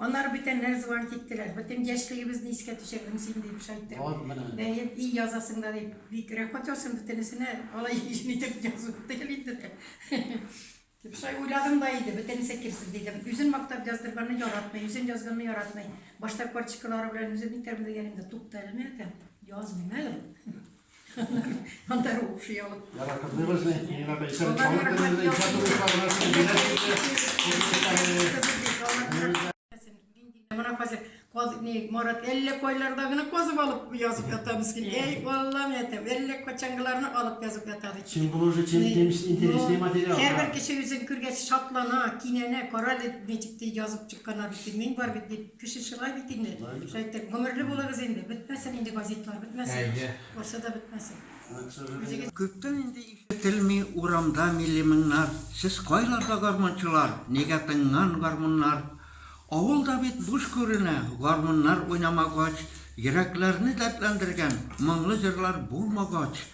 Аннары бүтән Рәзван киттеләр. Бөтен яшьлегебезне искә төшердең син, дип шайтты. Бәет и язасың да, дип, бик рәхмәт яусын бөтенесенә, алай җиңел итеп язу түгел инде дә. Дип шулай уйладым да иде, бөтенесе керсен дидем. Үзен мактап яздырганны яратмый, үзен язганны яратмый. Башта карточкалары белән үзем итәрмен дигән идем дә, тукта әле, мин әйтәм, язмыйм әле. Анда рухши алып. Яратып дөресне, мина бәйсәм чалып дөресне, иҗаты рухларына сәләмә җитә. Менә хәзер каз не Марат әллә кайларда гына казып алып язып ята мискин. Әй, Аллам әйтәм, әллә качангыларны алып язып ята ди. Син булу өчен чем темис интересный материал. Һәрбер кеше үзен күргәч шатлана, кинәнә, карале ничек язып чыкканнар бит. Мин бар бит дип. Кеше шулай бит инде. Шайтек, гомерле булыгыз инде. Бетмәсен инде газитлар, бетмәсен. Барсы да бетмәсен. Күптән инде ишетелми урамда милли моңнар, Сез кайларда гармунчылар, нигә тынган гармуннар? Авыл да бит буш күренә, гармуннар уйнамагач, Йөрәкләрне дәртләндергән моңлы җырлар булмагач.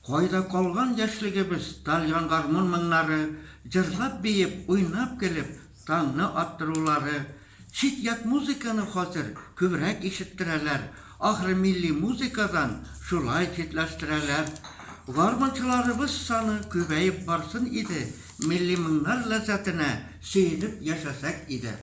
Кайда калган яшьлегебез, тальян гармун моңнары, Җырлап-биеп, уйнап-көлеп, таңны аттырулары, Чит-ят музыканы хәзер күбрәк ишеттерәләр, ахры милли музыкадан шулай читләштерәләр. Гармунчыларыбыз саны күбәеп барсын иде, милли моңнар ләззәтенә сөенеп яшәсәк иде.